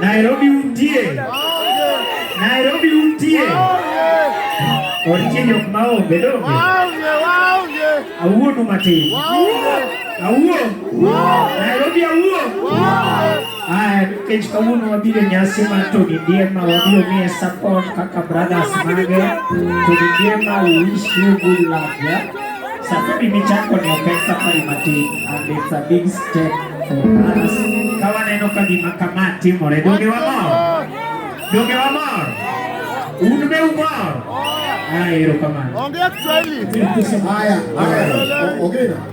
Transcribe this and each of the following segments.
Nairobi untie. Nairobi untie. Orchinyo maombe donge. Awuo tu matin. Awuo. Nairobi awuo. Aya, nikech kawuono wabiro e nyasi mar Tony Ndiema, wabiro miye support kaka brothers mage. Tony Ndiema, we wish you good luck, yeah? Safari michako ni opek safari matin and it's a big step for us. Ka waneno ka gima kama timore, donge wamor? Donge wamor? Un be umor? Aya, erokamano. Ongea Kiswahili. Haya, haya. Ongea.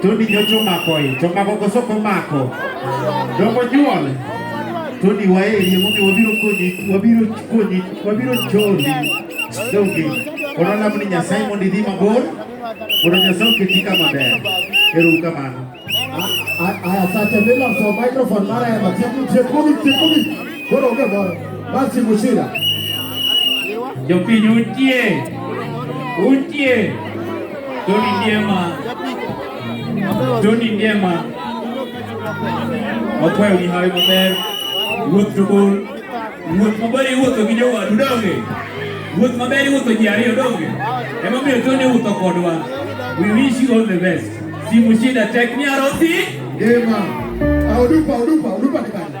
Tony nyocho mako e, to mako koso ko mako. Dongo nyuol. Tony waeri momi wabiro konyi, wabiro konyi, wabiro choni. Dongi. Kono lamu ni Nyasaye mondo idhi mabor. Kono Nyasaye oketi kama ber. Ero kamano. Aya sacha mila so microphone mara ya matiku tiekumi tiekumi. Kono onge moro. Basi mushira. Jopinyo utie. Utie. Doni Ndiema, Doni Ndiema, wakwayo ni hawi maber, wuoth to bor, wuoth maber iwuotho gi jowadu donge, wuoth maber iwuotho ji ariyo donge, emomiyo Doni wuotho kodwa. We wish you all the best. Simu shida tek ni arosi. Ndiema, audupa, audupa, audupa ni bana.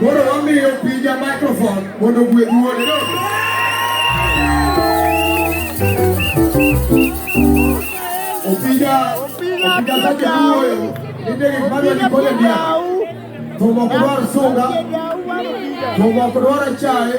Koro wamiyo pija microphone mondo gwe duole. Opija, opija sake duoyo, ninde gik madwa ni kole diya. Thumok dwar sunga, thumok dwar achaye.